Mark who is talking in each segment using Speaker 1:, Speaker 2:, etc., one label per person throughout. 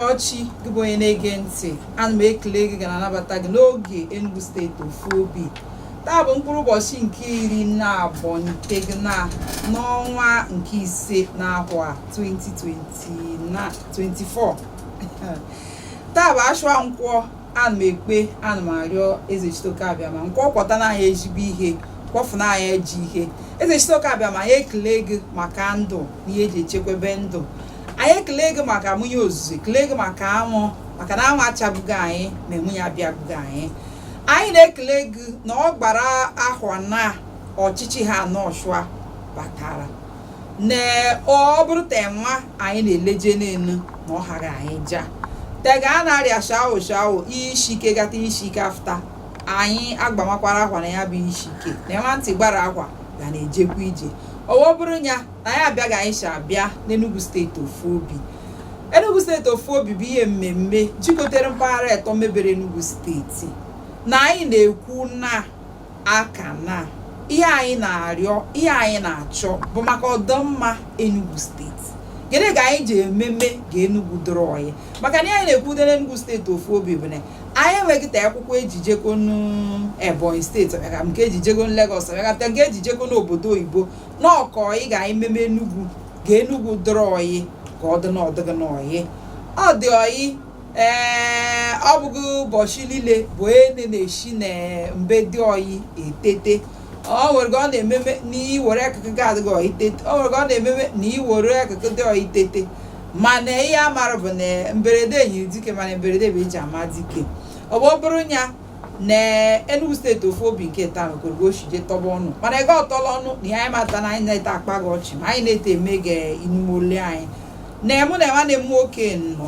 Speaker 1: ọchị gị bụ onye na-ege ntị ana m ekele gị ga na-anabata gị n'oge Enugu steeti ofu obi taa bụ mkpụrụ ụbọchị nke iri naabọ na tegịna n'ọnwa nke ise n'ahụa 2024 taa bụ ashụa nkwọ ana m ekpe ana m arịọ eze chitoke abịama nke ọ kwọta na anyị ezigbo ihe kwọfụ na anyị ajọ ihe eze chitoke abịama anyị ekele gị maka ndụ na ihe eji echekwebe ndụ anyị ekele gị maka munyi ozuzo ekele gị maka anwụ maka na anwụ achabugo anyị ma enwunye abịabugo anyị anyị na-ekele gị na ọ gbara ahụa naa ọchịchị ha nọ ọchụa batara na ọ bụrụ te nwa anyị na-eleje n'elu na ọ hara anyị ja tega a na-arịa shawo shawo isi ike gata isi ike afta anyị agbamakwara akwa na ya bụ isi ike na nwa ntị gbara akwa ga na-ejekwa ije owo bụrụ ya na anyị abịa ga anyị si abịa n'Enugu steeti ofu obi Enugu steeti ofu obi bụ ihe mmemme jikọtara mpaghara atọ mebere Enugu steeti na anyị na-ekwu na aka na ihe anyị na-arịọ ihe anyị na-achọ bụ maka ọdọmma Enugu steeti gịnị ka anyị ji ememe ga Enugu dịrị ọyị maka na anyị na-ekwudo n'Enugu steeti ofu obi bụ na anyị enweghị ta akwụkwọ eji ejeko n'Ebonyi steeti ọbịaga nke eji ejeko Lagos ọbịagapụta nke eji ejeko n'obodo oyibo na ọ ka ọyị ga anyị meme Enugu ga Enugu dịrị ọyị ka ọ dị n'ọdịgị n'ọyị ọ dị ọyị ee ọ bụghị ụbọchị niile bụ ene na-esi na mbe dị ọyị etete ọ nwere ka ọ na-ememe na iwere akụkụ gị adịghị ọyị tete ọ nwere ka ọ na-ememe na iwere akụkụ dị ọyị tete mana ihe a mara bụ na mberede nyiri dike mana mberede bụ eji ama dike ọ bụ ọ bụrụ ya na Enugu steeti ofu obi nke taa mekwere ka o si jee tọba ọnụ mana ego ọtọla ọnụ na ihe anyị mata na anyị na-ete akpa gị ọchị ma anyị na-ete eme gị inume ole anyị na mụ na nwanne m nwoke nọ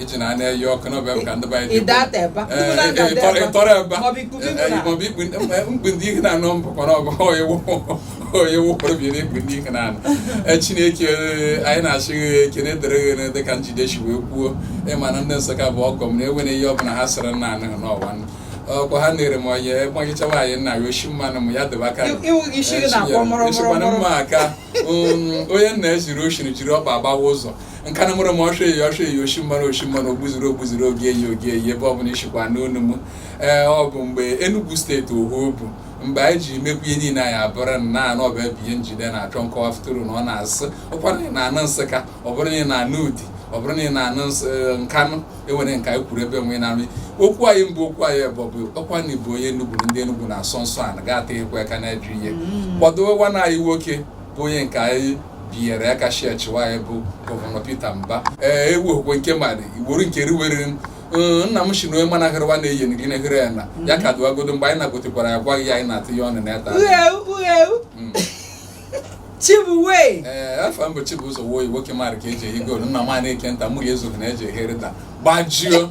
Speaker 1: iche na a na-eyi ọkụ n'obe m ka ndị banyị Ị daa ata ebe a. Ndị mmadụ na-ada ebe a. ịtọrọ ebe a. Maọbụ ikpu gị nwụrụ. maọbụ ikpu mkpu ndị ihe na-anọ mbụ kọrọ ọbụ onye wụpụrụ bi na ikpu ndị ihe na-anọ E, chineke ee, anyị na-achị gị ekene dịrị gị dị ka Njide si wee kwuo ịma na ndị Nsụka bụ ọgọ m na enwere ihe ọbụla ha sịrị nna anụ n'ọwa nụ. ọkwa ha nere m onye gbagichawa anyị nna ya oshi mmanụ m ya dịba aka Ị- ịwụ gị isi gị na-akpọ mụrụ mụrụ Echekwana mụrụ. mma aka um, onye nna ya jiri oshiri jiri ọkpa agbawa ụzọ Nkanụ mụrụ m ọsọ eyi ọsọ eyi oshi mmanụ oshi mmanụ ogbuziri ogbuziri ogi eyi ogi eyi ebe ọbụla ishikwa n'onu m ee ọ bụ mgbe Enugu steeti ofu obi mgbe anyị ji mekwu ihe niile anyị abụrụ na anụ ọbụ ebe ihe Njide na-achọ nkọwa fụtụrụ na ọ na-asị ụkwara na anụ Nsụka ọ bụrụ na ị na-anụ ụdị ọ bụrụ na ị na-anụ e, Nkanụ enwere nka anyị kwuru ebe nwe na-anụ okwu anyị mbụ okwu anyị bụ bụ ọkwa na ịbụ onye Enugu ndị Enugu na-asọ nsọ a na ga-ata ekwe aka na-eju ihe mm. kwadowe nwana anyị nwoke bụ onye nke anyị binyere aka chịachị nwaanyị bụ gọvanọ Peter Mba ee ewu okwe nke mmadụ igboro nke riwere nna m si na onye mana hịrịwa na-eyi gị na-ehere ya na ya ka dụwagodo mgbe anyị na-agotekwara ya gwaghị ya anyị na-atụ ya ọnụ na ya taa Chibuwe ee eh, afọ mbụ Chibụzọ Woyi nwoke mara ka eji ehi goolu nna m a na-eke nta mụ ga-ezoghị na eji ehi rịta gbajio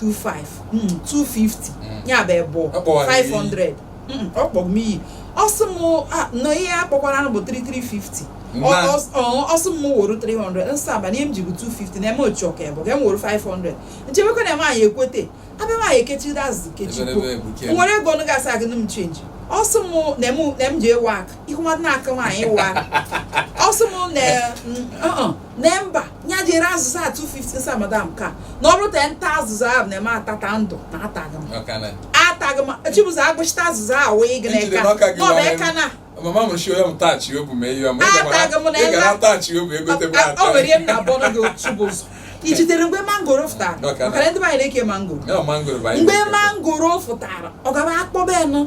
Speaker 1: 25 250 ya bụ ebo 500 ọ kpọrọ m iyi ọ sị m na ihe a kpọkwara bụ 3350 ọ sị m woro 300 nsọ abalị ihe m ji bụ 250 na eme otu ọka ebo ga m woro 500 nchebekwa na eme anyị ekwete abịa m anyị ekechiri azụ kechikwo nwere ego ọnụ ga-asa agụ m chenji ọ sị m na m ji ewe aka ihu nwa na-aka nwaanyị ewe aka ọ sị m na na mba ya jere azụza 250 sa madam ka na ọ bụrụ ta nta azụza ahụ na-eme atata ndụ na ataghị m ataghị m chibụzọ agụchita azụza ahụ wee gị na eka na ọ bụ eka na mama m shi onye m tachi obu mee ihe ọma ị gara tachi obu egote m ata o nwere ihe m na-abụ ọnụ gị otu bụ ụzọ i jidere mgbe mangoro fụtara maka na ndị be anyị na-eke mangoro mgbe mangoro fụtara ọ gaba akpọba ya nụ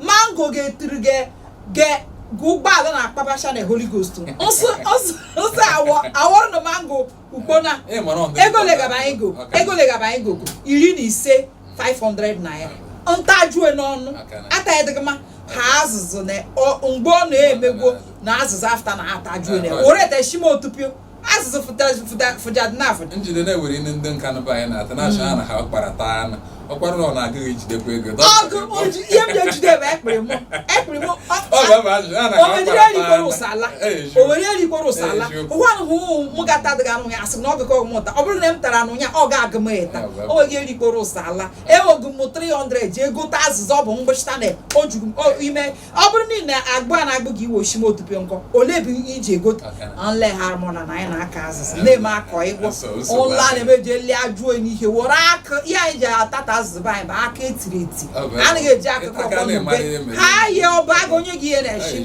Speaker 1: mango ga-etiri gị gị gị ụgbọala na-akpabacha na Holy Ghost nsị nsị nsị awọ awọrọ na mango ugbona Ị mara ọgụ- ego legaba anyị go ọka. ego legaba anyị gogo iri na ise 500 naira m tajue n'ọnụ aka na- ata ya adịgị mma ha azụzụ na ọ- mgbe ọ na-emegwo na azụzụ afta na atajue na aka. were teshima otupio asụsụ fụjadnaf njide na-ewere ndị ndị nka nụba anyị na-ata na-achọ ha na ha kpara taa anụ ọkwara na ọ na-agaghị ejidekwa ego ọgụ oji ihe m na-ejide bụ ekpere mụ ekpere mụ ọ ga-abụ ajụjụ ha na ha owere kpara erikwere taa ụsala Eji. owere erikwere ụsala Eji. ụwa ahụ mụ gata adịghị anụ ya asị m na ọ gụkọ mụta ọ bụrụ na m tara anụ ya ọ ga-agụ m ata ya, wee- o nweghị erikwere ụsala ewogu m 300 ji egota azịza ọ bụ mgbịchịta na o juru m o- ime ọ bụrụ na ị na-agbụ a na-agbụ gị iwe oshime otupio nkọ olee ebe ihe iji ego nle ha mụna na anyị na-aka azịza na-eme akọ ịgwọ ụlọ a na-emeji eli ajụ onye ihe were aka ihe anyị ji atata azịza be anyị bụ aka etiri eti anaghị eji akụkọ ọkpọmbe ha yie ọba aga onye gị ihe na-eshi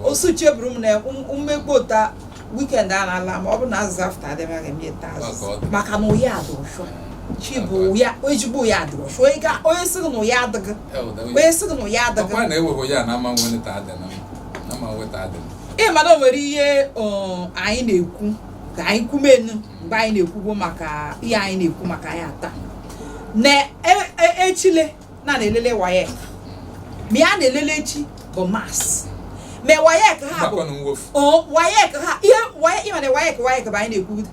Speaker 1: osu cheburu m na mmegbu ụta weekend a na-ala ma ọ bụrụ na azịza afta adịmaghị m ete azịza maka na ụya adị ọshọ chi bụ ụya ezigbo ụya adị ọshọ onye sịrị na ụya adịghị onye sị na ụya adịghị ọkwa na ewego ya na ama nweta adị na ama nweta adị ị ma na o nwere ihe anyị na-ekwu ka anyị kwumenu mgbe anyị na-ekwugbo maka ihe anyị na-ekwu maka ya taa na echile e, na na-elele WAEC ma ihe a na-elele echi bụ maths ma WAEC ha bụ WAEC ha ihe WAEC WAEC bụ anyị na-ekwu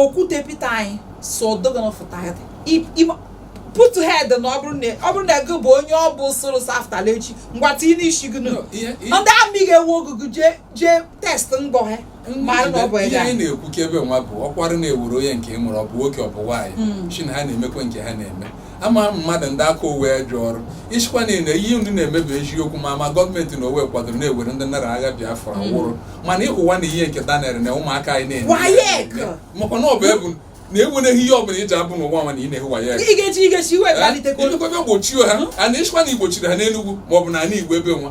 Speaker 1: Okwute Peter anyị so ọdọgọ na fụta ya putu head na ọ bụrụ na ego bụ onye ọ bụ soro saftala echi ngwa tinye n'isi gị nụ ndị amị ga-ewu ogugu jee jee test ngọ ha ihe anyị na-ekwu ka ebe nwa bụ ọkwara na-ewere onye nke ị mụrụ ọ bụ nwoke ọ bụ nwaanyị hmm. shi na ha na-emekwa nke ha na-eme ama m mmadụ ndị aka owe ajọ ọrụ isikwa niile ihe ndị na-emebi eziokwu ma ma gọọmenti na owe kwadoro na e nwere ndị nụrụ agha Biafra mm. wụrụ mana ịhụwa na ihe nke Daniel na ụmụaka anyị na-eme makwa na ọ bụ ebu na enwereghị ihe ọbụla iji abụ n'ụwa nwa na ị na-ehu waya imekwebe gbochie ha a na-esikwa na igbochiri ha n'Enugwu maọbụ na ala Igbo ebe nwa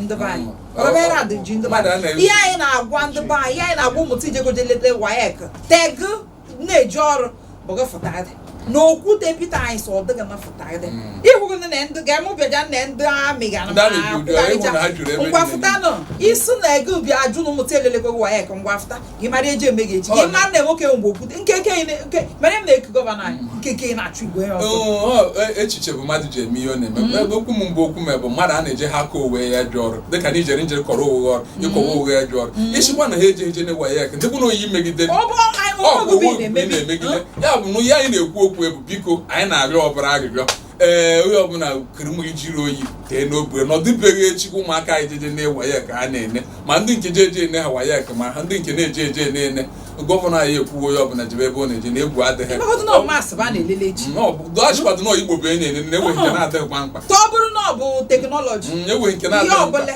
Speaker 1: ndị be anyị ọbara adị ji ndị be anyị ihe anyị na-agwa ndị be anyị ihe anyị na-agwa ụmụta ijegoje leta wayek teg na-eji ọrụ bụga fụtadị na Okwute Peter anyị sọ ọ dịghị mafụtagịdị ịhụrụ na ndị ga-emụbịaja na ndị amị ga ngwafụta nọ isi na ego ubi ajụ na ụmụta elelego wayek ngwafụta gị mara eji eme gị echi gị mara na nwoke mgbe okwute nkeke nke mere m na-eku gọvanọ anyị mm. nkeke na-achụ igwe ya ọzọ e, echiche bụ mmadụ ji eme ihe ọ na-eme mm. ebe okwu m mgbe okwu m bụ mmadụ a na-eje ha akọ owe ya ajọ ọrụ dịka na ijere njere kọrọ owe ọrụ mm. ịkọwa owe ya ajọ ọrụ isikwa na ha eje eje na-ewa ya eke ndịbụ na oyi megide ọ bụ owe na-emegide ya bụ na ihe anyị na-ekwu okwu ebu biko anyị na-arịọ ọbara arịrịọ ee onye ọbụla kere ụmụ gị jiri oyi tee n'obu nọdụ be gị echi ka ụmụaka anyị jeje ne wayek ha na-ene ma ndị nke je eje ene ha wayek ma ha ndị nke na-eje eje na-ene gọvanọ anyị ekwuwo onye ọbụla jebe ebe ọ na-eje na egwu adịghị Ịmakọta na ọ maths bụ a na-elele echi dọchịkwadụ na igbo bụ enyi na enweghị nke na-adịghịkwa mkpa ọ bụrụ na ọ bụ teknọlọji Mm, enweghị nke ihe na-adịghị mkpa ọbụla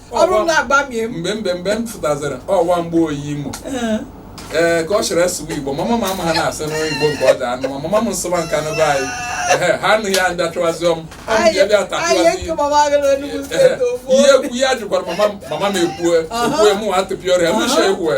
Speaker 1: ọ bụrụ na agbamie m mgbe mgbe mgbe m fụtazara ọwa mgbe oyi imo ee, ee ka ọ chịrị asụwa igbo mama m ama ha na-asị n'ụlọ igbo nke ọ dị anụ ma mama m nsụwa nke anụ be anyị ehe ha anụghị ya ndị achụwazịọ m ọ bụ ya bịa anyị tapịwazi eke mama gị na Enugu steeti ofu ihe ekwu ya jụkwara mama m mama m ekwue ekwue mụ atụpịa ọrịa m ishe ekwue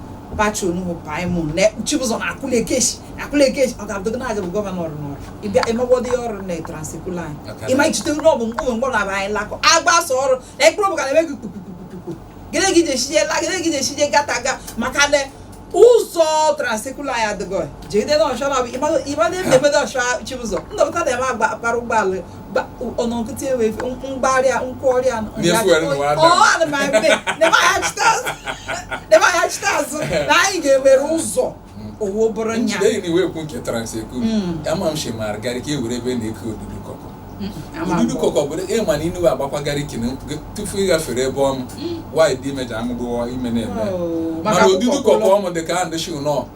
Speaker 1: Abacha Onuhu Paimon na Chibuzor na Akụla Ekeshi Akụla Ekeshi ọ ga-abụdị na aja bụ gọvanọ ọrụ n'ọrụ ịbịa ịmagwọdị ya ọrụ na Trans-Ekulu anyị ịma ichite ụlọ ọgwụ mgbe mgbọrọ aba anyị lakọ agbasa ọrụ na ekpere ọbụ ka na-eme gị kpukpukpukpukpu gịnị gị ji eshije la gịnị gị ji eshije gata ga maka na ụzọ Trans-Ekulu anyị adịgọ jegide na ọchọ na ịmadị ebe na-emedo ọchọ Chibuzor ndọpụta na-eme akpara ụgbọala ba ọ̀nà nkịtị ewe mgbari nkwọrị anụ na-emeghachite azụ na anyị ga-ewere ụzọ owo bụrụ nya njide na iwe ekwu nke Trans-Ekulu ama m shemara Gariki e were ebe na-eke odudu kọkọ odudu kọkọ bụ ịma na inuwe agbakwa Gariki ne tupu ịghafere ebe ọm waị dị imeja amụdụọ ime na-eme mana odudu kọkọ ọmụ dị ka a ndị shi nọ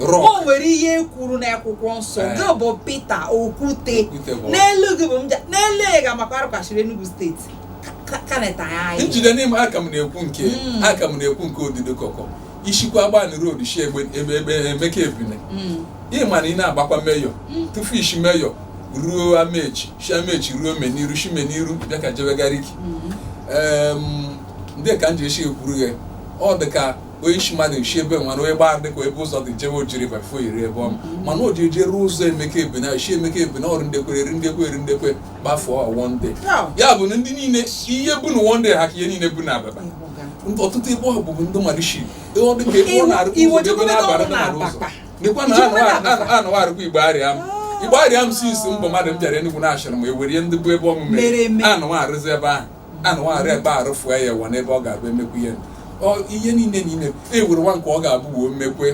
Speaker 1: o nwere ihe e kwuru n'akwụkwọ nsọ eh. gị bụ Pita Okwute n'elu gị bụ Mba n'elu ị ga-amakwa arụkachiri Enugu steeti njide n'ime ka m na-ekwu nke hmm. ka m na-ekwu nke odido kọkọ i shikwa Agbanị Road shi egbe ebe Emeka Ebila hmm. ị ma na ị na-agbakwa Mayor hmm. tufu i shi Mayor ruo Amechi shi Amechi ruo Meniru shi Meniru bịa ka jebe Gariki ndị ka m ji eshi ekwuru ghe ọ dị ka onye isi mmadụ nchi ebe nwa na onye gbara dịka ebe ụzọ dị jewe ojiri bafo iri ebe ọma mana o ji eje ruo ụzọ Emeka Ebila i si Emeka Ebila ọrụ ndekwe eri ndekwe eri ndekwe gbafuo One Day ya bụ na ndị niile ihe bụ na One Day ha ka ihe niile bụ na ababa ọtụtụ ebe ọ bụbụ ndị mmadụ shi ọ dị ka ebe ọ na-arụ ụzọ ebe na-abara na ụzọ dịkwa na anụwa arụkwa Igbariam Igbariam si isi mbụ mmadụ m bịara Enugu na-achọrọ m ewere ndị bụ ebe ọmụme anụwa arụzi ebe ahụ a na nwaghara ebe arụfụ ya ewa n'ebe ọ ga-abụ emekwu ihe ihe niile na ime e were nwa nke ọ ga-abụ wee mmekwe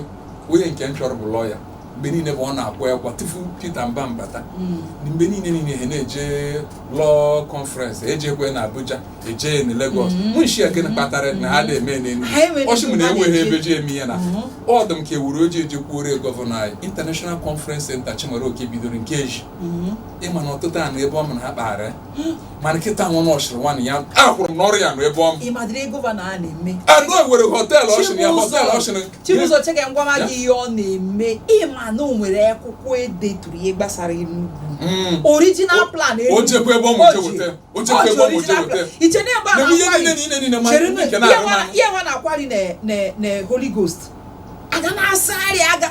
Speaker 1: onye nke m chọrọ bụ lọya mgbe niile bụ ọ na-akwa akwa tupu Peter Mba mbata hmm. mgbe niile niile ha na-eje law conference ejekwe na Abuja eje na Lagos hmm. mụ shị ya gịnị kpatara na ha na-eme n'Enugu ọ shị mụ na e nweghị ebe e ji eme ihe na hmm. ọ dị m ka e were ọjị jekwuru gọvanọ anyị International Conference Center Chimaroke bidoro nke eji ị ma na ọtụtụ anụ ebe ọ ma na ha kpaghara mana kịta nwa m ọchịrị nwanne ya akwụrụ m n'ọrụ ya nụ ebe ọ m ịmadịrị gọvanọ a na-eme anụ e nwere hotel ọchịrị ya hotel ọchịrị Chibụzọ che ka m gwama gị ihe ọ na-eme ị ma na o nwere akwụkwọ e deturu ihe gbasara Enugu hmm. original plan o jekwa ebe ọ mụ je weta o jekwa ebe ọ mụ je weta iche na ebe a na-akwari ihe nwa na-akwari na Holy Ghost aga na-asagharị aga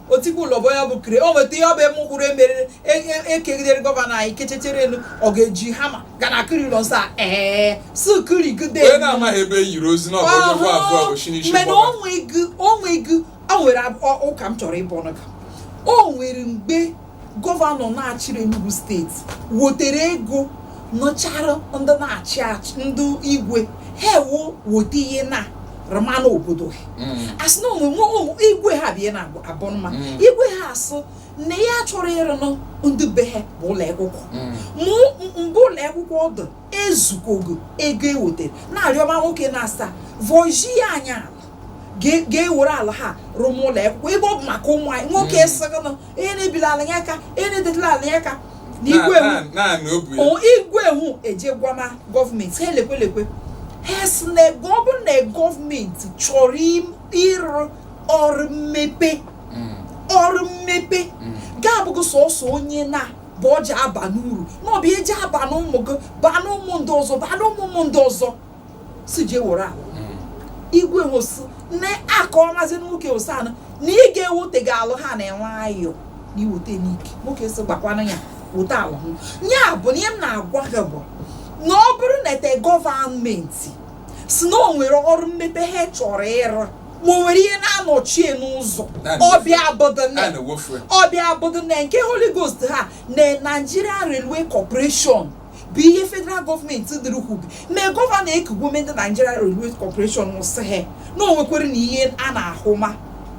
Speaker 1: otigbu ụlọbọ ya bụ kire o nweta ihe ọ bụ eme ụkpụrụ e mere e kegidere gọvanọ anyị kechechere elu ọ ga-eji hama gaa na-ekiri ụlọ nsọ a ee si kirigide onye na-amaghị ebe e yiri ọ sị na ọ bụ onye bụ abụọ bụ shinishi mana o nweghị o nweghị o nwere ab- ọ- ụka m chọrọ ịbọ ụnụ ka o nwere mgbe gọvanọ na-achịrị Enugu steeti wotere ego nụchara ndị na-achị achị ndị igwe ha ewu wote ihe na-arụma n'obodo ha mm. asị na ụmụ igwe ha bịa na abụ mma mm. igwe ha asụ na ya chọrọ ịrụnụ ndị be ha bụ ụlọ akwụkwọ mm. mụ mgbe ụlọ akwụkwọ ọdụ ezukogo ego e wotere na-arịọma nwoke na asaa vọji ya anya ga-ewere ala ha rụm ụlọ akwụkwọ ebe ọ bụ maka ụmụ anyị nwoke mm. sịgịnụ ihe na ebila ala ya aka ihe na edetụla ala ya aka na igwe Na- hụ na- naanị obu ya o igwe hụ eje gwama gọọmenti ha elekwe lekwe ha sị na ego ọ bụrụ na gọọmenti chọrọ im- ịrụ ọrụ mmepe Mm, ọrụ mmepe mm. ga-abụghị sọsọ onye naa bụ ọ ja-aba n'uru na ọ bụ eji aba n'ụmụ gị baa n'ụmụ ndị ọzọ baa n'ụmụ ụmụ ndị ọzọ si jee were ahụ igwe wụsị na aka ọmazi nwoke wụsị anụ na ị ga-ewote gị alụ ha na-enwe ayọ na iweta n'ike nwoke si gbakwana ya weta alụ hụ ya bụ na ihe m na-agwa gị bụ na ọ bụrụ na steeti gọọmenti si na o nwere ọrụ mmepe ha chọrọ ịrụ ma o nwere ihe na-anọchie n'ụzọ Naanị ọ bịa bụdụ na a na-ewefu ya. ọ bịa bụdụ na nke holy ghost ha na nigerian railway corporation bụ ihe federal gọọmenti dịrị kwube mee gọvanọ ekugwo ndị Nigeria Railway Corporation sị ha na o nwekwere na ihe a na-ahụ ma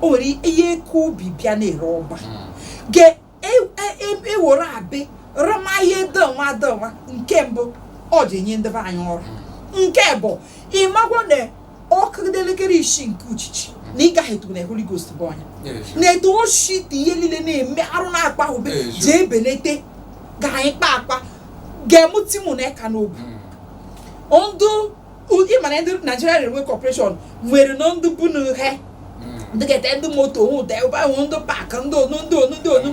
Speaker 1: o nwere ihe eke ubi bịa na-ere ọba ga-ewere e, e, e, abị rụma ihe dọnwa dọnwa nke mbụ ọ ji enye ndị be anyị ọrụ nke ebo ị magwo na ọ kụgide elekere isii nke uchichi na ị gaghị etubu na Holy Ghost bụ ọnya na-eto oshi dị ihe niile na-eme arụ na-akpa ube ji ebelete ga anyị kpa akpa ga-emu timu na eka n'obu hmm. ndụ ị ma na ndị Nigeria Railway Corporation nwere na ndụ bụ na ihe ndị ga-ete ndị moto hụ ụda ebe ahụ ndị pak ndị onu ndị onu ndị onu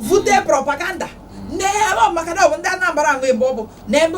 Speaker 1: vute propaganda na-eme maka na ọ bụ ndị Anambra ahụ ebe ọ bụ na ebe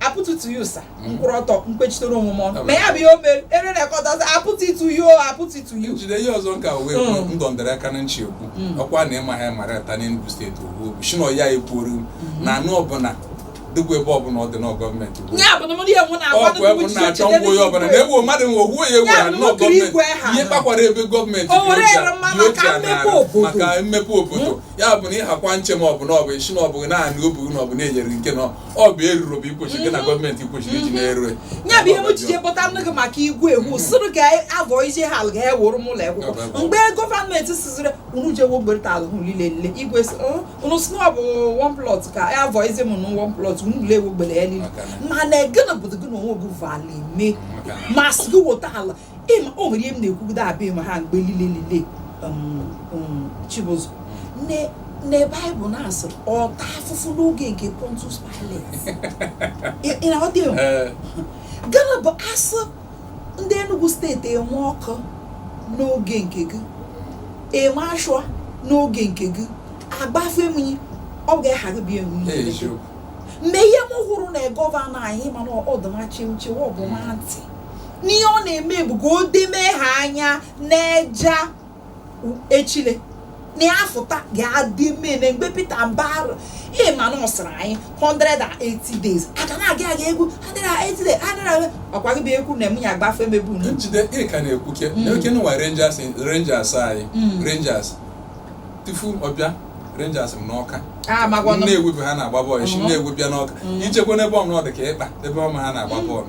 Speaker 1: apụtụtụ ya ụsa mm. mkpụrụ ọtọ mkpechitere omume ọnụ ma ya bụ ihe o mere ere rekọtazi apụtụtụ ya o apụtụtụ ya jide ihe ọzọ nka wee mm. ndọndere aka na nchi ekwu mm. ọkwa na ịma ha mara ta n'Enugu steeti owu shino ya ekwuoru mm-hmm. na alụ ọbụla dịkwa ebe ọbụla ọ dị na gọọmenti ọkụ ebe na-achọ ngwa onye ọbụla na egbuo mmadụ nwe ogwuo ya egwu ha nnọọ gọọmenti ihe kpakwara ebe gọọmenti maka mmepe obodo hmm? ya bụ na ịhakwa nche ma ọ bụ na ọ bụ isi na ọ bụghị naanị obu na ọ bụ na-enyere nke na ọ bụ eruru bụ ikwesị gị na mhm. gọọmenti kwesịrị iji mhm. na-erue ya bụ ihe m jije kpọta nne gị maka igwe egwu mhm. sịrụ ka avọ ije ha alụ ga-ewuru m ụlọ akwụkwọ mgbe gọọmenti siziri unu je wo gbere ala hụ lile lile igwe oh, unu si ọ bụ one plot ka avọ ize m na one plot unu le wo gbere ya lile mana gịnị bụ gị na onwe gị vali mee masị gị wota ala ịma o nwere ihe m na-ekwugide abịa ịma ha mgbe lile lile um, um, chibụzọ Ne- na baịbụl na-asị ọ ta afụfụ n'oge nke pontius pilate Ị- ị na-aghọta ya? Ee, gịnị bụ a sị ndị enugu steeti enwe ọkụ n'oge nke gị enwe ashụa n'oge nke gị agbafe mmiri ọ ga-eghara bịa enwe ihe eziokwu mgbe ihe m hụrụ na gọvanọ anyị mana ọdụmachi nchewa ọbụma ntị n'ihe ọ na-eme bụ ka o dome ha anya n'eja echile na ya fụta ga-adịmene mgbe Pita Mba ịma na ọ sịrị anyị 180 days aga na aga aga egwu 180 days adịra ọkwa gị bụ ekwu na emunye agbafe mebu na njide ị ka na-ekwu ke Mm. n'oke nwa rangers rangers anyị Mm. rangers tufu ọ bịa rangers nọ n'Ọka a magwanụ Nnewi bụ ha na-agba bọọlụ esi Mhm. Nnewi bịa n'Ọka Mhm. i jekwa n'ebe ọnụ ọ dị ka ikpa ebe ọma ha na-agba bọọlụ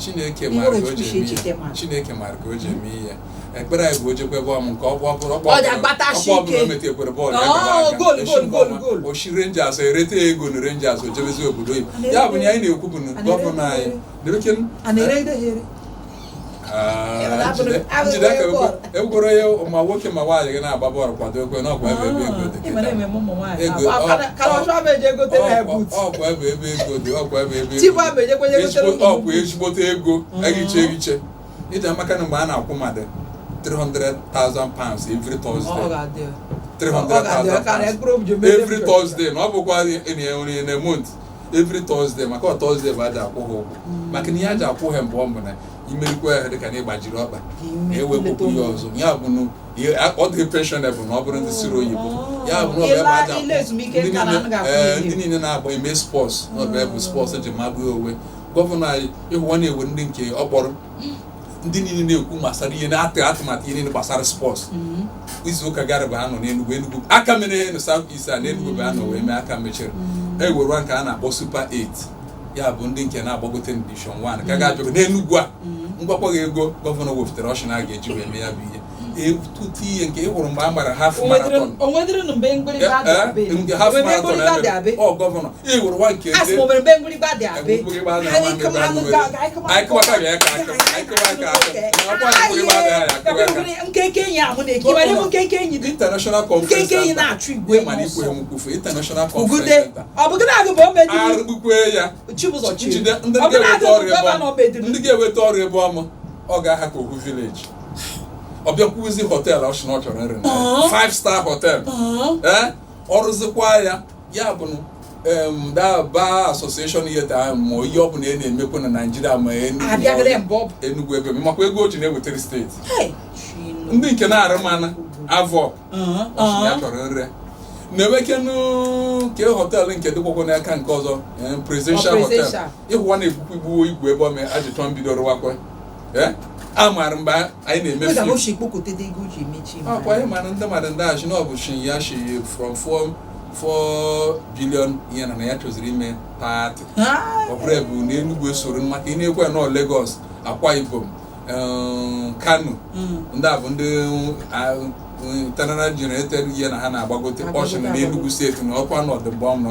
Speaker 1: chineke mara ka o ji eme ihe chineke mara ka o ji eme ihe ekpere anyị bụ o jekwe bọọlụ m nke ọkpọ ọ bụrụ ọkpọ ọ bụrụ o metekwere bọọlụ ya o shi Rangers erite ego na Rangers o jebezi obodo oyibo ya bụ na anyị na-ekwu bụ gọvanọ anyị egworo ya ma nwoke ma nwaanyị gị na-agba bọọlụ kwado ekwe na ọkwa ebe ebe ego dị ọkwa ebe ebe ego dị ọkwa ebe ebe ego ọkwa ezigbote ego ehiche ehiche iji maka na mgbe a na-akwụ mmadụ 300,000 pounds every Thursday 300,000 pounds every Thursday na ọ bụkwa in a month every Thursday maka ọ Thursday bụ e ji akwụ ha ụgwọ mm. maka na ihe e ji akwụ ha mbụ ọ bụ na i merụkwa ahụ dịka na ị gbajiri ọkpa na ewepụkwu ya ọzọ ya bụ na ọ dị pensionable na ọ bụrụ ndị siri oyibo oh. ya bụ na ọbịa bụ aja eh, ndị niile na-agba eme spọs na ọbịa bụ spọs eji magbuo onwe gọvanọ anyị ị hụwa na e nwere ndị nke ọ kpọrọ mm. ndị niile na-ekwu gbasara ihe na-atụ atụmatụ ihe niile gbasara spọts mm-hmm. izu ụka gara bụ a nọ n'Enugwu Enugwu a ka mere ihe na South East a n'Enugwu bụ a nọ wee mee a ka mechiri mm-hmm. e nwerewa nke a na-akpọ Super 8 ya bụ ndị nke na-agbagote Division 1 ka ga-abịago n'Enugwu a m gwakwa gị ego gọvanọ wepụtara ọ shị na a ga-eji wee mee ya bụ ihe ihe nke ị hụrụ mgbe a gbara half marathon ọ gọvanọ ị hụrụ nwa nke anyị kụwaka bịa ka international conference mana ikwe ha nkwufe international conference arụgbukwe ya ndị ga-eweta ọrụ ebe ọma ọ ga-aha ka ohu village ọ bịakwuzi họteelụ ọ sị na ọ chọrọ nri na ya. five star hotel ee ọ rụzikwa ya ya bụ na em, the bar association yeta ahụ ma ihe ọ bụla ị na-emekwa na naijiria ma Enugu ma abịagịrị ọdị- mbọ ọ bụ Enugu ebe makwa ego o ji na-ewetara steeti Hey, Chineke. ndị nke na-arụ mana avọ Uh-huh, ọ sị na ya uh-huh. chọrọ nri na-enwekenu ke họteelụ nke dịkwakwa n'aka nke ọzọ em, presidential Ọ hotel presidential. ị hụwa na-egbukwa igbuwo igwe ebe ọ mee ajụtọ mbido rụwakwa Eh? a maara mgbe anyị na-eme fim akwa anyị mara ndị mmadụ ndị a shị na ọ bụ shị na ya shi from 4 4 billion ihe na ya chọziri ime 30 ọ bụrụ ebe na Enugu esoro maka ị na-ekwe nọ Lagos Akwa Ibom um, Kano hmm. ndị a bụ ndị um, internally generated ihe na ha na-agbagote ọ shị na Enugu steeti na ọkwa nọdụ mgbe ọnụ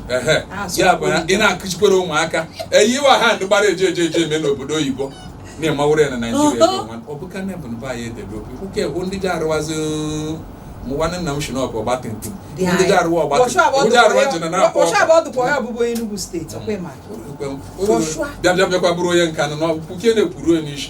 Speaker 1: ya bụ ị na-akụchikwere ụmụaka eyiwa ha ndị gbara eje eje eje eme n'obodo oyibo na-emawụrụ ya na naijiria ọ bụ kana bụ mba anyị edebe obi nwoke bụ ndị ji arụwazi mụwanne nna m shi n'ọbụ ọgba tum tum ndị ji arụwa ọgba tum ndị arụwa ji na na-akpọ bịa bịa bịakwa bụrụ onye nka nọ n'ọkpụkpụ ke na-ekwuru onye isi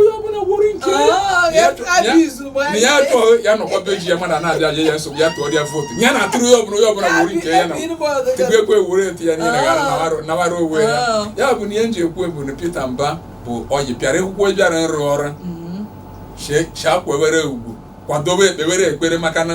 Speaker 1: onye ọbụla gworo nke ah, ya tụọ ya nọkwa be ji ya mana na-abịa aja ya nsogbu ya tụọ ya vootu ya na atụrụ ya ọbụla onye ọbụla gworo nke ya na tupu ekwe were etu ya niile ah. nawara onwe ya ah. ya bụ na ihe m ji ekwu bụ na Peter Mba bụ onye bịara ekwukwo bịara ịrụ ọrụ mm-hmm. shakwa were ugwu kwadobe ekpewere ekpere maka na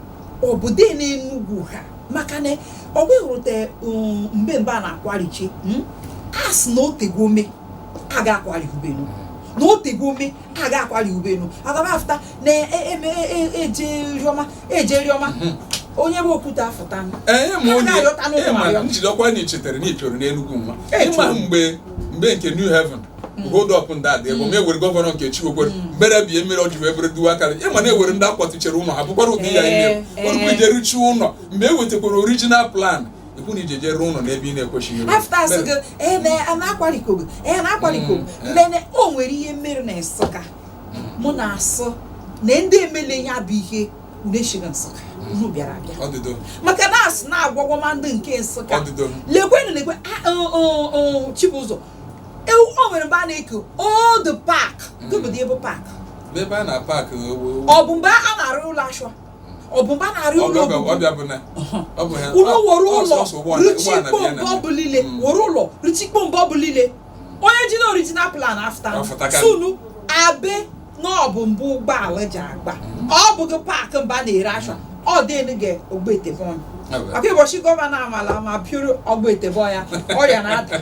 Speaker 1: obodo n'enugwu ha maka na ọ bụghị rute um, mbe mbe a na-akwarichi hmm? a sị na otego ome a ga-akwari ubenu na otego ome a ga-akwari ubenu agaba afụta na eje e, e, e, riọma eje riọma hmm. onye bụ okwute afụta ịma na ichetere na ichoro n'enugwu nwa ịma mgbe mgbe nke New Haven Mm. hold up na-adị ebe ma e nwere gọvanọ nke chiwekwere mm. mere bie mmiri ọ ji wee bụrụ dual carriage ịma na e nwere ndị a kwatuchere ụlọ ha bụkwara ụdị ya ihe eh, eh. orukwu ije rụchie ụlọ mgbe e wetakwara original plan ị hụ na ị jeje rụọ ụlọ n'ebe ị na-ekwesịghị mene o nwere ihe mere na nsụka mụ na-asị na ndị emele ya bụ ihe na-echiri nsụka unu bịara abịa maka na asụ na-agwagwọ ma ndị nke nsụka lekwenụ lekwe ah, oh, oh, oh, chibụzọ ewu o nwere mgbe a na-eke old park gụbụdị ebe park n'ebe a na paakị ewu ọ bụ mgbe a na-arụ ụlọ ashụa ọ bụ mgbe a na-arụ ụlọ ọbịa obibi ọbịa bụ na ọ bụ ha ụlọ were ọ- ụlọ ọsọsọ ụgbọala- ụgbọala rụchikpọ bịa na mgbe ọ bụla ile Mm. were ụlọ rụchikpọ mgbe ọ bụla ile onye ji na original plan afụta Afụta ka- sunu abe na ọ bụ mbe ụgbọala ji agba ọ bụghị paakị mbe a na-ere ashụa ọ dịnụ gị Ogbete ebe ọnya Ebe. maka ụbọchị gọvanọ amala ma pịụrụ Ogbete ebe ọya ọya na-ada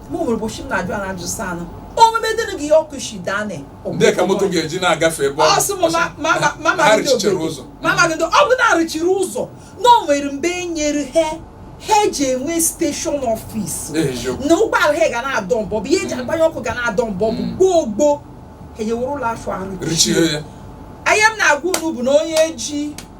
Speaker 1: mụ nwere ụbọchị m na-ajụ ala ajụ saa anụ omume dịrị gị ọkụ shi dane ndị ka moto ga-eji na-agafe ebe ọ sị m ma- ma- ma- ma- ma- ha ndị rụchichara obodo. ụzọ Ma ma ndị- ọ bụ na arụchiri ụzọ na o nwere mgbe e nyere ha ha eji enwe steshọn ọfis eziokwu na ụgbọala ha ga na-adọ mbọ bụ ihe eji agbanyụ ọkụ ga na-adọ mbọ bụ gboo gboo ha ewere ụlọ ashụa arụchie ya ihe m na-agwa unu bụ na onye ji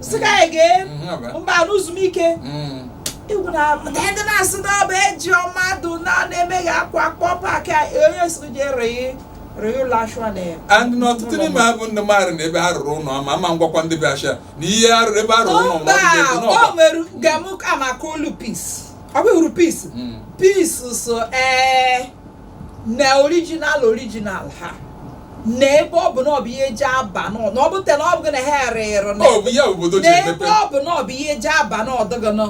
Speaker 1: sị ka anyị gee Mhm, ọ bụ. mba n'ezumike Mm. egwu na ndị na-asị na ọ bụ eji mmadụ na na-emeghị akwa akpọ paakị a, onye siri je rịị rịị ụlọ ashwa na ya and na ọtụtụ n'ime ha bụ ndị maara na ebe a rụrụ ụlọ ama ama ngwakwa ndị be asha na ihe a rụrụ ebe a rụrụ ụlọ mba ma ọ bụ ebe o n'ọba. nwere gamụ amaka olu Peace ọ bụghị uru Peace Mm. Peace so ee na original original ha na ebe ọ bụ na ọ bụ ihe eji aba n'ọ- na ọ bụ te na ọ bụ gị na ha erere na ọ bụ ya obodo ji n'ebe emepe ọ bụ na ọ bụ ihe eji aba n'ọdọgọnọ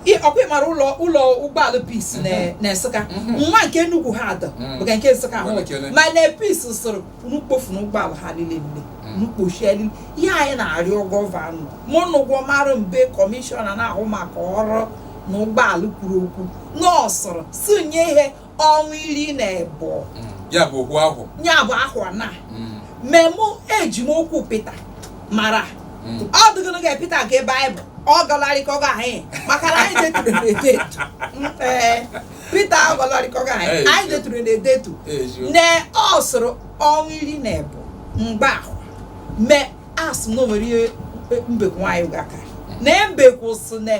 Speaker 1: ọkwa ị maara ụlọ ụlọ ụgbọala Peace na- na Nsukka nwa nke nnukwu ha adọ Mhm. bụ ka nke Nsukka ahụ Nwere kele. ma na pis soro unu kpofu na ụgbọala ha niile nne unu kpochie niile ihe anyị na-arịọ gọvanọ mụ na ụgwọ mara mbe kọmishọna na-ahụ maka ọrụ na ụgbọala kwuru okwu na ọ sụrụ si nye ihe ọnwa iri na ịbụọ Mm. ya bụ okwu ahụ ya bụ ahụ na Mm. mmemme eji m okwu pịta mara Mm. ọ dịgịnụ ga pịta ga ebe anyị bụ ọ gọlarịkọga anyị maka na anyị deturu na edetu ee pịta ọ gọlarịkọga anyị Ee, anyị sure. deturu na edetu Eziokwu. ne ọ sụrụ ọnwa iri na ebụọ mgbe ahụ me asụ na o nwere ihe mbekwu nwa Anịga ka na mbekwu sị na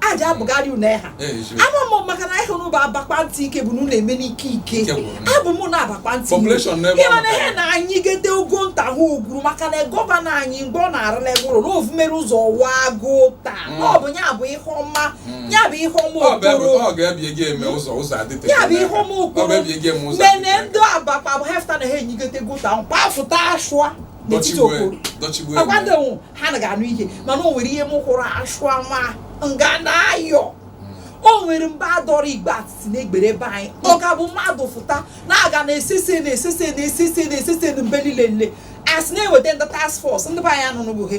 Speaker 1: aja abụgharị unu ha ama m maka na ị hụrụ bụ Abakpa ntị ike bụ na unu eme n'ike ike abụ m na Abakpa ntị ị ma na ihe na anyị gede ogo nta ha ogwuru maka na gọvanọ anyị mgbe ọ na-arụla ebe ụlọ na ovumere ụzọ wa agụ taa mm. ọ bụ ya bụ ihe ọma mm. ya bụ ihe ọma okporo ya bụ ihe ọma okporo mene ndị Abakpa bụ hefta na ha enyigotego ta mkpa fụta ashụa n'etiti okporo ọkwadoghị ha na ga-anụ ihe mana o nwere ihe m hụrụ achụ ama nga na-ayọ o nwere mba a dọrọ igbe atịtị n'egbere be anyị ọ ga-abụ mmadụ fụta na-aga na-esese na-esese na-esese na-esese na mbe niile nle asị na-eweta ndị task force ndị be anyị anụnụbụghị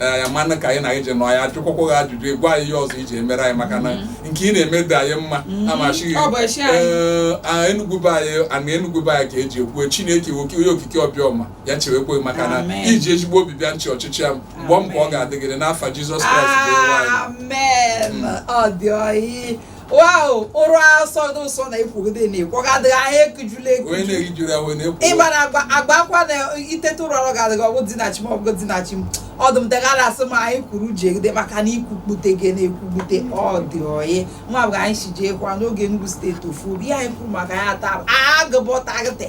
Speaker 1: ee ya mana ka anyị na anyị ji nọ ya ajụkwakwa gị ajụjụ ị gwa anyị ihe ọzọ i ji emere anyị maka na nke ị na-eme dị anyị mma amachighị Ọ bụ echi anyị. ee a Enugwu be anyị ana Enugwu be anyị ka eji ekwue Chineke nwoke onye okike obi ọma ya chewekwa gị maka na Amen. i ji ezigbo obi bịa ịchị ọchịchị ya mgbe ọ m ka ọ ga-adịgịrị n'afa Jizọs Kraịst bụ onye nwe anyị amen ọ dị oyi wow ụra sọ dị ụsọ na i kwogide na ịkwọgadịghị ahụ ekujula onye ekuju na-erijuru ahụ na-ekwu ịgbara agba agba akwa na i teta ụra ọrụ ga-adịghị ọgwụ dị na chi m ọgwụ dị na chi m ọdụm degara asị m anyị kwuru jegide maka na ikwukpute gị na-ekwugbute ọ dị oyi nwa bụ anyị si jee kwa n'oge Enugu steeti ofu obi ihe anyị kwuru maka ya taa agụbọtagịte